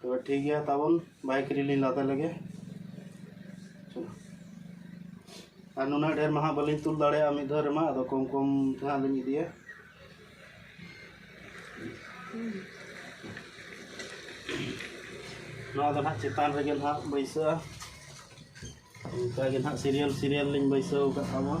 ᱛᱚ ᱴᱷᱤᱠ ᱜᱮᱭᱟ ᱛᱟᱵᱚᱱ ᱵᱟᱭᱤᱠ ᱨᱮᱞᱤ ᱞᱟᱫᱮ ᱞᱮᱜᱮ ᱟᱨ ᱱᱩᱱᱟᱹᱜ ᱰᱷᱮᱨ ᱢᱟ ᱦᱟᱸᱜ ᱵᱟᱹᱞᱤᱧ ᱛᱩᱞ ᱫᱟᱲᱮᱭᱟᱜᱼᱟ ᱢᱤᱫ ᱫᱷᱟᱣ ᱨᱮᱢᱟ ᱟᱫᱚ ᱠᱚᱢ ᱠᱚᱢ ᱛᱮ ᱦᱟᱸᱜ ᱞᱤᱧ ᱤᱫᱤᱭᱟ ᱱᱚᱣᱟ ᱫᱚ ᱦᱟᱸᱜ ᱪᱮᱛᱟᱱ ᱨᱮᱜᱮ ᱦᱟᱸᱜ ᱵᱟᱹᱭᱥᱟᱹᱜᱼᱟ ᱚᱱᱠᱟ ᱜᱮ ᱦᱟᱸᱜ ᱥᱤᱨᱤᱭᱟᱞ ᱥᱤᱨᱤᱭᱟᱞ ᱞᱤᱧ ᱵᱟᱹᱭᱥᱟᱹᱣ ᱟᱠᱟᱫ ᱛᱟᱵᱚᱱᱟ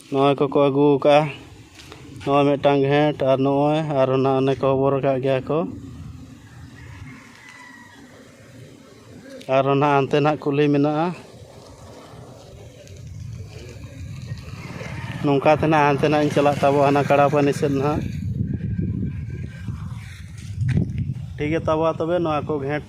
ᱱᱚᱜᱼᱚᱭ ᱠᱚᱠᱚ ᱟᱹᱜᱩ ᱠᱟᱜᱼᱟ ᱱᱚᱜᱼᱚᱭ ᱢᱤᱫᱴᱟᱝ ᱜᱷᱮᱸᱴ ᱟᱨ ᱱᱚᱜᱼᱚᱭ ᱟᱨ ᱚᱱᱟ ᱚᱱᱮ ᱠᱚ ᱦᱚᱵᱚᱨ ᱠᱟᱜ ᱜᱮᱭᱟ ᱠᱚ ᱟᱨᱚ ᱱᱟᱜ ᱦᱟᱱᱛᱮ ᱱᱟᱜ ᱠᱩᱞᱦᱤ ᱢᱮᱱᱟᱜᱼᱟ ᱱᱚᱝᱠᱟ ᱛᱮ ᱱᱟᱜ ᱦᱟᱱᱛᱮ ᱱᱟᱜ ᱤᱧ ᱪᱟᱞᱟᱜ ᱛᱟᱵᱚᱣᱟ ᱦᱟᱱᱟ ᱠᱟᱲᱟᱯᱟᱹᱱᱤ ᱥᱮᱫ ᱱᱟᱜ ᱴᱷᱤᱠ ᱜᱮᱛᱟ ᱵᱚᱣᱟ ᱛᱚᱵᱮ ᱱᱚᱣᱟ ᱠᱚ ᱜᱷᱮᱸᱴ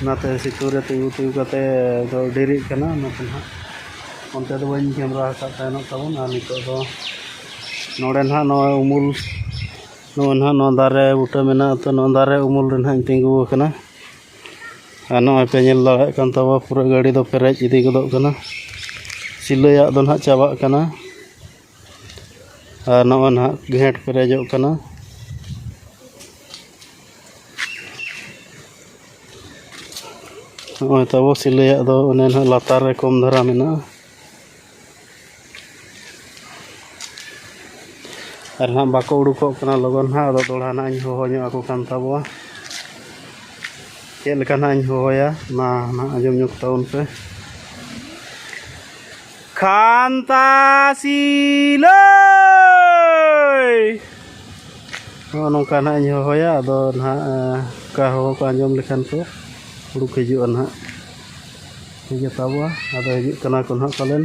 ᱚᱱᱟᱛᱮ ᱥᱤᱛᱩᱝ ᱨᱮ ᱛᱤᱸᱜᱩ ᱛᱤᱸᱜᱩ ᱠᱟᱛᱮ ᱫᱚ ᱰᱮᱨᱤᱜ ᱠᱟᱱᱟ ᱚᱱᱟᱛᱮ ᱱᱟᱜ ᱚᱱᱛᱮ ᱫᱚ ᱵᱟᱹᱧ ᱠᱮᱢᱨᱟ ᱟᱠᱟᱫ ᱛᱟᱦᱮᱱᱚᱜ ᱛᱟᱵᱚᱱ ᱟᱨ ᱱᱤᱛᱚᱜ ᱫᱚ ᱱᱚᱰᱮ ᱱᱟᱜ ᱱᱚᱜᱼᱚᱸᱭ ᱩᱢᱩᱞ ᱱᱚᱜᱼᱚᱸᱭ ᱱᱟᱜ ᱱᱚᱣᱟ ᱫᱟᱨᱮ ᱵᱩᱴᱟᱹ ᱢᱮᱱᱟᱜᱼᱟ ᱛᱚ ᱱᱚᱣᱟ ᱫᱟᱨᱮ ᱩᱢᱩᱞ ᱨᱮ ᱱᱟᱜ ᱤᱧ ᱛᱤᱸᱜᱩ ᱟᱠᱟᱱᱟ ᱟᱨ ᱱᱚᱜᱼᱚᱸᱭ ᱯᱮ ᱧᱮᱞ ᱫᱟᱲᱮᱭᱟᱜ ᱠᱟᱱ ᱛᱟᱵᱚ ᱯᱩᱨᱟᱹ ᱜᱟᱹᱰᱤ ᱫᱚ ᱯᱮᱨᱮᱡ ᱤᱫᱤ ᱜᱚᱫᱚᱜ ᱠᱟᱱᱟ ᱥᱤᱞᱟᱹᱭᱟᱜ ᱫᱚ ᱱᱟᱜ ᱪᱟᱵᱟᱜ ᱠᱟᱱᱟ ᱟᱨ ᱱᱚᱜᱼᱚᱭ ᱱᱟᱦᱟᱜ ᱜᱷᱮᱸᱴ ᱯᱮᱨᱮᱡᱚᱜ ᱠᱟᱱᱟ ᱱᱚᱜᱼᱚᱭ ᱛᱟᱵᱚ ᱥᱤᱞᱟᱹᱭᱟᱜ ᱫᱚ ᱚᱱᱮ ᱱᱟᱦᱟᱜ ᱞᱟᱛᱟᱨ ᱨᱮ ᱠᱚᱢ ᱫᱷᱟᱨᱟ ᱢᱮᱱᱟᱜᱼᱟ ᱟᱨ ᱱᱟᱦᱟᱜ ᱵᱟᱠᱚ ᱩᱰᱩᱠᱚᱜ ᱠᱟᱱᱟ ᱞᱚᱜᱚᱱ ᱱᱟᱦᱟᱜ ᱟᱫᱚ ᱫᱚᱲᱦᱟ ᱱᱟᱦᱟᱜ ᱤᱧ ᱦᱚᱦᱚ ᱧᱚᱜ ᱟᱠᱚ ᱠᱟᱱ ᱛᱟᱵᱚᱣᱟ ᱪᱮᱫ ᱞᱮᱠᱟ ᱱᱟᱦᱟᱜ ᱤᱧ ᱦᱚᱦᱚᱭᱟ ᱚᱱᱟ ᱱᱟᱦᱟᱜ ᱟᱸᱡᱚᱢ ᱧᱚᱜᱽ ᱛᱟᱵᱚᱱ ᱯᱮ ᱠᱷᱟᱱᱛᱟᱥᱤᱞᱟᱹᱭ ᱱᱚᱜᱼᱚ ᱱᱚᱝᱠᱟ ᱱᱟᱦᱟᱜ ᱤᱧ ᱦᱚᱦᱚᱭᱟ ᱟᱫᱚ ᱱᱟᱦᱟᱜ ᱚᱱᱠᱟ ᱦᱚᱦᱚ ᱠᱚ ᱟᱸᱡᱚᱢ ᱞᱮᱠᱷᱟᱱ ᱠᱚ ᱩᱰᱩᱠ ᱦᱤᱡᱩᱜᱼᱟ ᱱᱟᱦᱟᱜ ᱴᱷᱤᱠ ᱜᱮ ᱛᱟᱵᱚᱣᱟ ᱟᱫᱚ ᱦᱤᱡᱩᱜ ᱠᱟᱱᱟ ᱠᱚ ᱱᱟᱦᱟᱜ ᱯᱟᱞᱮᱱ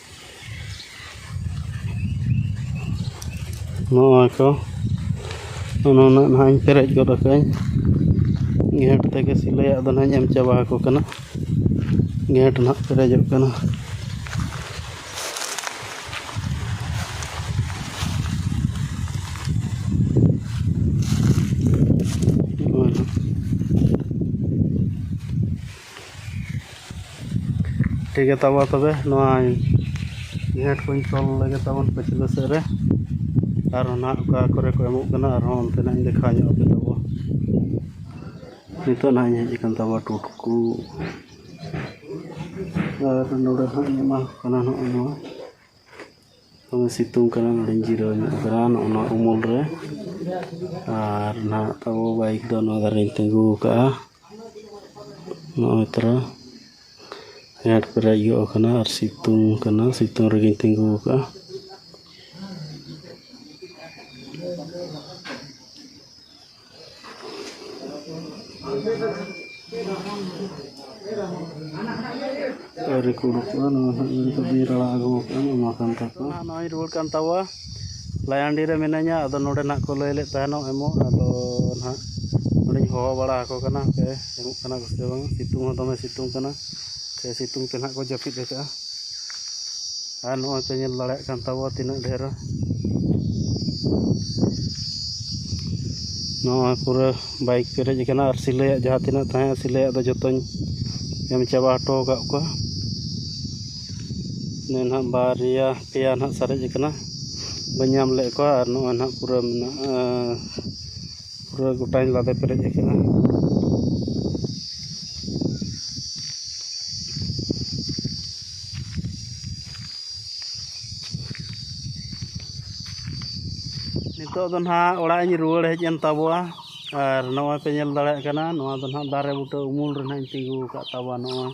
ᱱᱚᱜᱼᱚᱭ ᱛᱚ ᱚᱱᱟ ᱨᱮᱱᱟᱜ ᱱᱟᱦᱟᱜ ᱤᱧ ᱯᱮᱨᱮᱡ ᱜᱚᱫ ᱠᱟᱜᱼᱟᱹᱧ ᱜᱷᱮᱸᱴ ᱛᱮᱜᱮ ᱥᱤᱞᱟᱹᱭᱟᱜ ᱫᱚ ᱱᱟᱦᱟᱜ ᱤᱧ ᱮᱢ ᱪᱟᱵᱟ ᱟᱠᱚ ᱠᱟᱱᱟ ᱜᱷᱮᱸᱴ ᱱᱟᱦᱟᱜ ᱯᱮᱨᱮᱡᱚᱜ ᱠᱟᱱᱟ ᱱᱚᱜᱼᱚᱭ ᱱᱟᱦᱟᱜ ᱴᱷᱤᱠ ᱜᱮᱭᱟ ᱛᱟᱵᱚ ᱛᱚᱵᱮ ᱱᱚᱣᱟ ᱱᱮᱴ ᱠᱚᱧ ᱛᱚᱞ ᱞᱮᱜᱮ ᱛᱟᱵᱚᱱ ᱯᱟᱹᱪᱷᱞᱟᱹ ᱥᱮᱫ ᱨᱮ ᱟᱨ ᱚᱱᱟ ᱚᱠᱟ ᱠᱚᱨᱮ ᱠᱚ ᱮᱢᱚᱜ ᱠᱟᱱᱟ ᱟᱨᱦᱚᱸ ᱚᱱᱛᱮᱱᱟᱜ ᱤᱧ ᱫᱮᱠᱷᱟᱣ ᱧᱚᱜ ᱟᱯᱮ ᱛᱟᱵᱚ ᱱᱤᱛᱚᱜ ᱱᱟᱦᱟᱜ ᱤᱧ ᱦᱮᱡ ᱟᱠᱟᱱ ᱛᱟᱵᱚ ᱴᱩᱴᱠᱩ ᱟᱨ ᱱᱚᱰᱮ ᱦᱟᱸᱜ ᱤᱧ ᱮᱢᱟ ᱠᱚ ᱠᱟᱱᱟ ᱱᱚᱜᱼᱚᱭ ᱱᱚᱣᱟ ᱫᱚᱢᱮ ᱥᱤᱛᱩᱝ ᱠᱟᱱᱟ ᱱᱚᱸᱰᱮᱧ ᱡᱤᱨᱟᱹᱣ ᱧᱚᱜ ᱟᱠᱟᱱᱟ ᱱᱚᱜᱼᱚ ᱱᱚᱣᱟ ᱩᱢᱩᱞ ᱨᱮ ᱟᱨ ᱱᱟᱦᱟᱜ ᱛᱟᱵᱚ ᱵᱟᱭᱤᱠ ᱫᱚ ᱱᱚᱣᱟ ᱫᱷᱟᱨᱮ ᱨᱤᱧ ᱛᱤᱸᱜᱩ ᱟᱠᱟᱫᱼᱟ ᱱᱚᱜᱼᱚᱭ ᱛᱚᱨᱟ ᱦᱮᱰ ᱯᱮᱨᱮᱡ ᱜᱚᱫ ᱟᱠᱟᱱᱟ ᱟᱨ ᱥᱤᱛᱩᱝ ᱠᱟᱱᱟ ᱥᱤᱛᱩᱝ ᱨᱮᱜᱮᱧ ᱛᱤᱸᱜᱩ ᱟᱠᱟᱫᱼᱟ ᱟᱹᱣᱨᱤ ᱠᱚ ᱩᱰᱩᱠᱚᱜᱼᱟ ᱱᱚᱣᱟ ᱦᱟᱸᱜ ᱱᱤᱛᱚᱜ ᱫᱚᱧ ᱨᱟᱲᱟ ᱟᱹᱜᱩ ᱟᱠᱟᱫᱼᱟ ᱱᱚᱣᱟ ᱠᱟᱱ ᱛᱟᱠᱚᱣᱟ ᱱᱟᱦᱟᱜ ᱱᱚᱜᱼᱚᱭ ᱨᱩᱣᱟᱹᱲ ᱠᱟᱱ ᱛᱟᱵᱚᱣᱟ ᱞᱟᱭᱟᱱᱰᱤ ᱨᱮ ᱢᱤᱱᱟᱹᱧᱟ ᱟᱫᱚ ᱱᱚᱰᱮ ᱱᱟᱦᱟᱜ ᱠᱚ ᱞᱟᱹᱭ ᱞᱮᱫ ᱛᱟᱦᱮᱱᱚᱜ ᱮᱢᱚᱜ ᱟᱫᱚ ᱱᱟᱦᱟᱜ ᱱᱚᱰᱮᱧ ᱦᱚᱦᱚ ᱵᱟᱲᱟ ᱟᱠᱚ ᱠᱟᱱᱟ ᱦᱟᱯᱮ ᱮᱢᱚᱜ ᱠᱟᱱᱟ ᱠᱚ ᱥᱮ ᱵᱟᱝ ᱥᱤᱛᱩᱝ ᱦᱚᱸ ᱫᱚᱢᱮ ᱥᱤᱛᱩᱝ ᱠᱟᱱᱟ ᱥᱮ ᱥᱤᱛᱩᱝ ᱛᱮ ᱱᱟᱦᱟᱜ ᱠᱚ ᱡᱟᱹᱯᱤᱫ ᱟᱠᱟᱫᱼᱟ ᱟᱨ ᱱᱚᱜᱼᱚᱭ ᱯᱮ ᱧᱮᱞ ᱫᱟᱲᱮᱭᱟᱜ ᱠᱟᱱ ᱛᱟᱵᱚᱣᱟ ᱛᱤᱱᱟᱹᱜ ᱰᱷᱮᱨ ᱱᱚᱜᱼᱚᱭ ᱯᱩᱨᱟᱹ ᱵᱟᱭᱤᱠ ᱯᱮᱨᱮᱡ ᱟᱠᱟᱱᱟ ᱟᱨ ᱥᱤᱞᱟᱹᱭᱟᱜ ᱡᱟᱦᱟᱸ ᱛᱤᱱᱟᱹᱜ ᱛᱟᱦᱮᱸ ᱠᱟᱱᱟ ᱥᱤᱞᱟᱹᱭᱟᱜ ᱫᱚ ᱡᱚᱛᱚᱧ ᱮᱢ ᱪᱟᱵᱟ ᱦᱚᱴᱚ ᱟᱠᱟᱫ ᱠᱚᱣᱟ ᱤᱱᱟᱹ ᱱᱟᱦᱟᱜ ᱵᱟᱨᱭᱟ ᱯᱮᱭᱟ ᱱᱟᱦᱟᱜ ᱥᱟᱨᱮᱡ ᱟᱠᱟᱱᱟ ᱵᱟᱹᱧ ᱧᱟᱢ ᱞᱮᱫ ᱠᱚᱣᱟ ᱟᱨ ᱱᱚᱜᱼᱚᱭ ᱱᱟᱦᱟᱜ ᱯᱩᱨᱟᱹ ᱢᱮᱱᱟᱜᱼᱟ ᱯᱩᱨᱟᱹ ᱜᱚᱴᱟᱧ ᱞᱟᱫᱮ ᱯᱮᱨᱮᱡ ᱟᱠᱟᱱᱟ ᱱᱤᱛᱳᱜ ᱫᱚ ᱱᱟᱜ ᱚᱲᱟᱜ ᱤᱧ ᱨᱩᱣᱟᱹᱲ ᱦᱮᱡ ᱮᱱ ᱛᱟᱵᱚᱣᱟ ᱟᱨ ᱱᱚᱜᱼᱚᱭ ᱯᱮ ᱧᱮᱞ ᱫᱟᱲᱮᱭᱟᱜ ᱠᱟᱱᱟ ᱱᱚᱣᱟ ᱫᱚ ᱱᱟᱜ ᱫᱟᱨᱮ ᱵᱩᱴᱟᱹ ᱩᱢᱩᱞ ᱨᱮ ᱱᱟᱜ ᱤᱧ ᱛᱤᱸᱜᱩ ᱟᱠᱟᱫ ᱛᱟᱵᱚᱣᱟ ᱱᱚᱜᱼᱚᱭ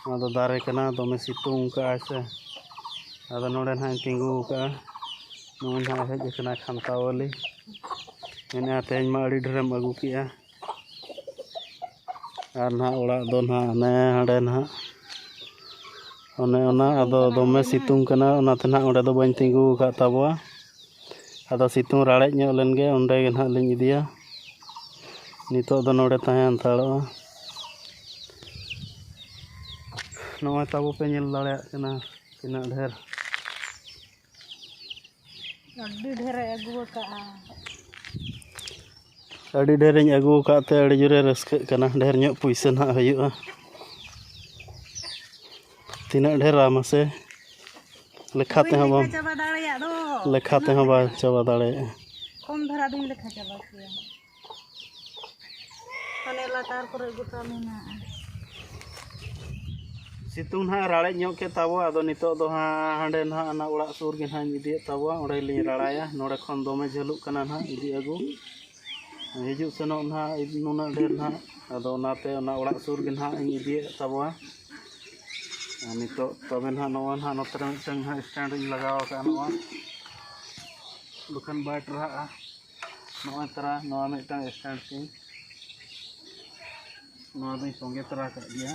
ᱱᱚᱣᱟ ᱫᱚ ᱫᱟᱨᱮ ᱠᱟᱱᱟ ᱫᱚᱢᱮ ᱥᱤᱛᱩᱝ ᱠᱟᱜᱼᱟᱭ ᱥᱮ ᱟᱫᱚ ᱱᱚᱸᱰᱮ ᱱᱟᱜ ᱤᱧ ᱛᱤᱸᱜᱩ ᱟᱠᱟᱫᱼᱟ ᱱᱚᱜᱼᱚᱭ ᱱᱟᱜ ᱦᱮᱡ ᱟᱠᱟᱱᱟ ᱠᱷᱟᱱᱛᱷᱟᱣᱟᱞᱤ ᱢᱮᱱᱮᱫᱼᱟᱭ ᱛᱮᱦᱮᱧ ᱢᱟ ᱟᱹᱰᱤ ᱰᱷᱮᱨᱮᱢ ᱟᱹᱜᱩ ᱠᱮᱫᱼᱟ ᱟᱨ ᱱᱟᱦᱟᱜ ᱚᱲᱟᱜ ᱫᱚ ᱱᱟᱦᱟᱜ ᱦᱟᱱᱮ ᱦᱟᱸᱰᱮ ᱱᱟᱦᱟᱜ ᱚᱱᱮ ᱚᱱᱟ ᱟᱫᱚ ᱫᱚᱢᱮ ᱥᱤᱛᱩᱝ ᱠᱟᱱᱟ ᱚᱱᱟᱛᱮ ᱱᱟᱦᱟᱜ ᱚᱸᱰᱮ ᱫᱚ ᱵᱟᱹᱧ ᱛᱤᱸᱜᱩ ᱟᱠᱟᱫ ᱛᱟᱵᱚᱣᱟ ᱟᱫᱚ ᱥᱤᱛᱩᱝ ᱨᱟᱲᱮᱡ ᱧᱚᱜ ᱞᱮᱱ ᱜᱮ ᱚᱸᱰᱮ ᱜᱮ ᱱᱟᱦᱟᱜ ᱞᱤᱧ ᱤᱫᱤᱭᱟ ᱱᱤᱛᱚᱜ ᱫᱚ ᱱᱚᱸᱰᱮ ᱛᱟᱦᱮᱸ ᱦᱟᱛᱟᱲᱚᱜᱼᱟ ᱱᱚᱜᱼᱚᱭ ᱛᱟᱵᱚ ᱯᱮ ᱧᱮᱞ ᱫᱟᱲᱮᱭᱟᱜ ᱠᱟᱱᱟ ᱛᱤᱱᱟᱹᱜ ᱰᱷᱮᱨ ᱟᱹᱰᱤ ᱰᱷᱮᱹᱨᱮ ᱟᱹᱜᱩ ᱟᱠᱟᱫᱼᱟ ᱟᱹᱰᱤ ᱰᱷᱮᱹᱨᱤᱧ ᱟᱹᱜᱩ ᱟᱠᱟᱫ ᱛᱮ ᱟᱹᱰᱤ ᱡᱳᱨᱮ ᱨᱟᱹᱥᱠᱟᱹᱜ ᱠᱟᱱᱟ ᱰᱷᱮᱹᱨ ᱧᱚᱜ ᱯᱩᱭᱥᱟᱹ ᱦᱟᱸᱜ ᱦᱩᱭᱩᱜᱼᱟ ᱛᱤᱱᱟᱹᱜ ᱰᱷᱮᱹᱨᱟ ᱢᱟᱥᱮ ᱞᱮᱠᱷᱟ ᱛᱮᱦᱚᱸ ᱵᱟᱢ ᱞᱮᱠᱷᱟ ᱛᱮᱦᱚᱸ ᱵᱟᱢ ᱪᱟᱵᱟ ᱫᱟᱲᱮᱭᱟᱜᱼᱟ ᱠᱚᱢ ᱫᱷᱟᱨᱟ ᱫᱚᱧ ᱞᱮᱠᱷᱟ ᱪᱟᱵᱟ ᱠᱮᱭᱟ ᱦᱟᱱᱮ ᱞᱟᱛᱟᱨ ᱠᱚᱨᱮ ᱜᱚᱴᱟ ᱢᱮᱱᱟᱜᱼᱟ ᱥᱤᱛᱩᱝ ᱦᱟᱸᱜ ᱨᱟᱲᱮᱡ ᱧᱚᱜ ᱠᱮᱫ ᱛᱟᱵᱚᱣᱟ ᱟᱫᱚ ᱱᱤᱛᱚᱜ ᱫᱚ ᱦᱟᱸᱜ ᱦᱟᱸᱰᱮ ᱱᱟᱜ ᱚᱱᱟ ᱚᱲᱟᱜ ᱥᱩᱨ ᱜᱮ ᱱᱟᱜ ᱤᱫᱤᱭᱮᱫ ᱛᱟᱵᱚᱣᱟ ᱚᱸᱰᱮ ᱞᱤᱧ ᱨᱟᱲᱟᱭᱟ ᱱᱚᱰᱮ ᱠᱷᱚᱱ ᱫᱚᱢᱮ ᱡᱷᱟᱹᱞᱩᱜ ᱠᱟᱱᱟ ᱱᱟᱜ ᱤᱫᱤ ᱟᱹᱜᱩ ᱦᱤᱡᱩᱜ ᱥᱮᱱᱚᱜ ᱱᱟᱜ ᱱᱩᱱᱟᱹᱜ ᱰᱷᱮᱨ ᱱᱟᱜ ᱟᱫᱚ ᱚᱱᱟᱛᱮ ᱚᱱᱟ ᱚᱲᱟᱜ ᱥᱩᱨ ᱜᱮ ᱱᱟᱜ ᱤᱧ ᱤᱫᱤᱭᱮᱫ ᱛᱟᱵᱚᱣᱟ ᱟᱨ ᱱᱤᱛᱚᱜ ᱛᱚᱵᱮ ᱱᱟᱜ ᱱᱚᱣᱟ ᱱᱟᱜ ᱱᱚᱛᱮ ᱨᱮ ᱢᱤᱫᱴᱟᱝ ᱱᱟᱜ ᱥᱴᱮᱱᱰ ᱤᱧ ᱞᱟᱜᱟᱣ ᱟᱠᱟᱫᱼᱟ ᱱᱚᱣᱟ ᱵᱟᱠᱷᱟᱱ ᱵᱟᱭ ᱴᱟᱨᱦᱟᱜᱼᱟ ᱱᱚᱜᱼᱚᱭ ᱛᱟᱨᱟ ᱱᱚᱣᱟ ᱢᱤᱫᱴᱟᱝ ᱥᱴᱮᱱᱰ ᱛᱤᱧ ᱱᱚᱣᱟ ᱫᱚᱧ ᱥᱚᱸᱜᱮ ᱛᱚᱨᱟ ᱠᱟᱜ ᱜᱮᱭᱟ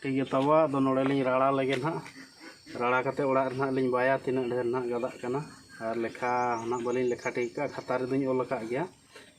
ᱴᱷᱤᱠ ᱜᱮ ᱛᱟᱵᱚ ᱟᱫᱚ ᱱᱚᱰᱮ ᱞᱤᱧ ᱨᱟᱲᱟ ᱞᱮᱜᱮ ᱱᱟᱜ ᱨᱟᱲᱟ ᱠᱟᱛᱮ ᱚᱲᱟᱜ ᱨᱮ ᱱᱟᱜ ᱞᱤᱧ ᱵᱟᱭᱟ ᱛᱤᱱᱟᱹᱜ ᱰᱷᱮᱨ ᱱᱟᱜ ᱜᱟᱫᱟᱜ ᱠᱟᱱᱟ ᱟᱨ ᱞᱮᱠᱷᱟ ᱱᱟᱜ ᱵᱟᱹᱞᱤᱧ ᱞᱮᱠᱷᱟ ᱴᱷᱤᱠ ᱠᱟᱜᱼᱟ ᱠᱷᱟᱛᱟ ᱨᱮᱫᱚᱧ ᱚᱞ ᱟᱠᱟᱫ ᱜᱮᱭᱟ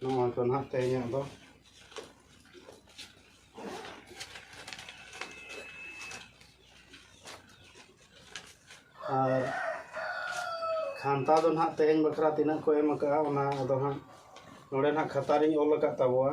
ᱱᱚᱣᱟ ᱠᱚ ᱱᱟᱦᱟᱜ ᱛᱮᱦᱮᱧᱟᱜ ᱫᱚ ᱟᱨ ᱠᱷᱟᱱᱛᱟ ᱫᱚ ᱱᱟᱦᱟᱜ ᱛᱮᱦᱮᱧ ᱵᱟᱠᱷᱨᱟ ᱛᱤᱱᱟᱹᱜ ᱠᱚ ᱮᱢ ᱟᱠᱟᱫᱼᱟ ᱚᱱᱟ ᱫᱚ ᱦᱟᱸᱜ ᱱᱚᱰᱮ ᱱᱟᱦᱟᱜ ᱠᱷᱟᱛᱟ ᱨᱤᱧ ᱚᱞ ᱟᱠᱟᱫ ᱛᱟᱵᱚᱣᱟ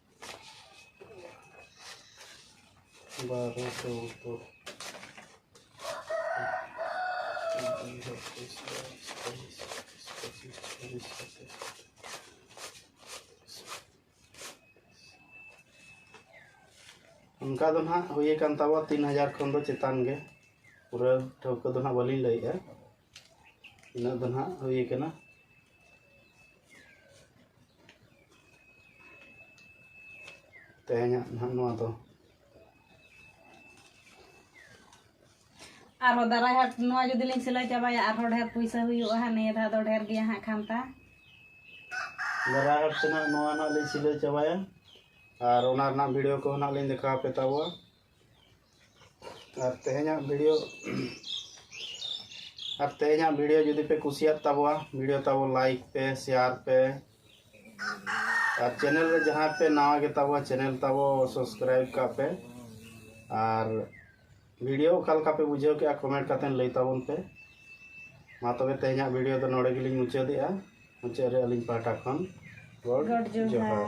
ᱵᱟᱨᱚ ᱪᱳᱫᱽᱫᱳ ᱚᱱᱠᱟ ᱫᱚ ᱱᱟᱦᱟᱜ ᱦᱩᱭ ᱟᱠᱟᱱ ᱛᱟᱵᱚ ᱛᱤᱱ ᱦᱟᱡᱟᱨ ᱠᱷᱚᱱ ᱫᱚ ᱪᱮᱛᱟᱱ ᱜᱮ ᱯᱩᱨᱟᱹ ᱴᱷᱟᱹᱣᱠᱟᱹ ᱫᱚ ᱱᱟᱦᱟᱜ ᱵᱟᱹᱞᱤᱧ ᱞᱟᱹᱭᱮᱫᱼᱟ ᱤᱱᱟᱹᱜ ᱫᱚ ᱱᱟᱦᱟᱜ ᱦᱩᱭ ᱟᱠᱟᱱᱟ ᱛᱮᱦᱮᱧᱟᱜ ᱱᱟᱦᱟᱜ ᱱᱚᱣᱟ ᱫᱚ ᱟᱨᱦᱚᱸ ᱫᱟᱨᱟᱭ ᱦᱟᱴ ᱱᱚᱣᱟ ᱡᱩᱫᱤ ᱞᱤᱧ ᱥᱤᱞᱟᱹᱭ ᱪᱟᱵᱟᱭᱟ ᱟᱨᱦᱚᱸ ᱰᱷᱮᱨ ᱯᱩᱭᱥᱟᱹ ᱦᱩᱭᱩᱜᱼᱟ ᱦᱟᱸᱜ ᱱᱤᱭᱟᱹ ᱫᱷᱟᱣ ᱫᱚ ᱰᱷᱮᱨ ᱜᱮᱭᱟ ᱦᱟᱸᱜ ᱠᱷᱟᱱᱛᱟ ᱫᱟᱨᱟᱭ ᱦᱟᱴ ᱛᱮᱱᱟᱜ ᱱᱚᱣᱟ ᱱᱟᱦᱟᱜ ᱞᱤᱧ ᱥᱤᱞᱟᱹᱭ ᱪᱟᱵᱟᱭᱟ ᱟᱨ ᱚᱱᱟ ᱨᱮᱱᱟᱜ ᱵᱷᱤᱰᱤᱭᱳ ᱠᱚ ᱱᱟᱦᱟᱜ ᱞᱤᱧ ᱫᱮᱠᱷᱟᱣ ᱯᱮ ᱛᱟᱵᱚᱣᱟ ᱟᱨ ᱛᱮᱦᱮᱧᱟᱜ ᱵᱷᱤᱰᱤᱭᱳ ᱟᱨ ᱛᱮᱦᱮᱧᱟᱜ ᱵᱷᱤᱰᱤᱭᱳ ᱡᱩᱫᱤ ᱯᱮ ᱠᱩᱥᱤᱭᱟᱜ ᱛᱟᱵᱚᱣᱟ ᱵᱷᱤᱰᱤᱭᱳ ᱛᱟᱵᱚ ᱞᱟᱭᱤᱠ ᱯᱮ ᱥᱮᱭᱟᱨ ᱯᱮ ᱟᱨ ᱪᱮᱱᱮᱞ ᱨᱮ ᱡᱟᱦᱟᱸᱭ ᱯᱮ ᱱᱟᱣᱟ ᱜᱮ ᱛᱟᱵᱚᱣᱟ ᱪᱮᱱᱮᱞ ᱛᱟᱵᱚ ᱥᱟᱵᱥᱠᱨᱟᱭᱤᱵ ᱠᱟᱜ ᱯᱮ ᱟᱨ ᱵᱷᱤᱰᱤᱭᱳ ᱚᱠᱟ ᱞᱮᱠᱟ ᱯᱮ ᱵᱩᱡᱷᱟᱹᱣ ᱠᱮᱜᱼᱟ ᱠᱚᱢᱮᱱᱴ ᱠᱟᱛᱮ ᱞᱟᱹᱭ ᱛᱟᱵᱚᱱ ᱯᱮ ᱢᱟ ᱛᱚᱵᱮ ᱛᱮᱦᱮᱧᱟᱜ ᱵᱷᱤᱰᱤᱭᱳ ᱫᱚ ᱱᱚᱰᱮ ᱜᱮᱞᱤᱧ ᱢᱩᱪᱟᱹᱫᱮᱜᱼᱟ ᱢᱩᱪᱟᱹᱫ ᱨᱮ ᱟᱹᱞᱤᱧ ᱯᱟᱦᱴᱟ ᱠᱷᱚᱱ ᱜᱚᱰ ᱡᱚᱦᱟᱨ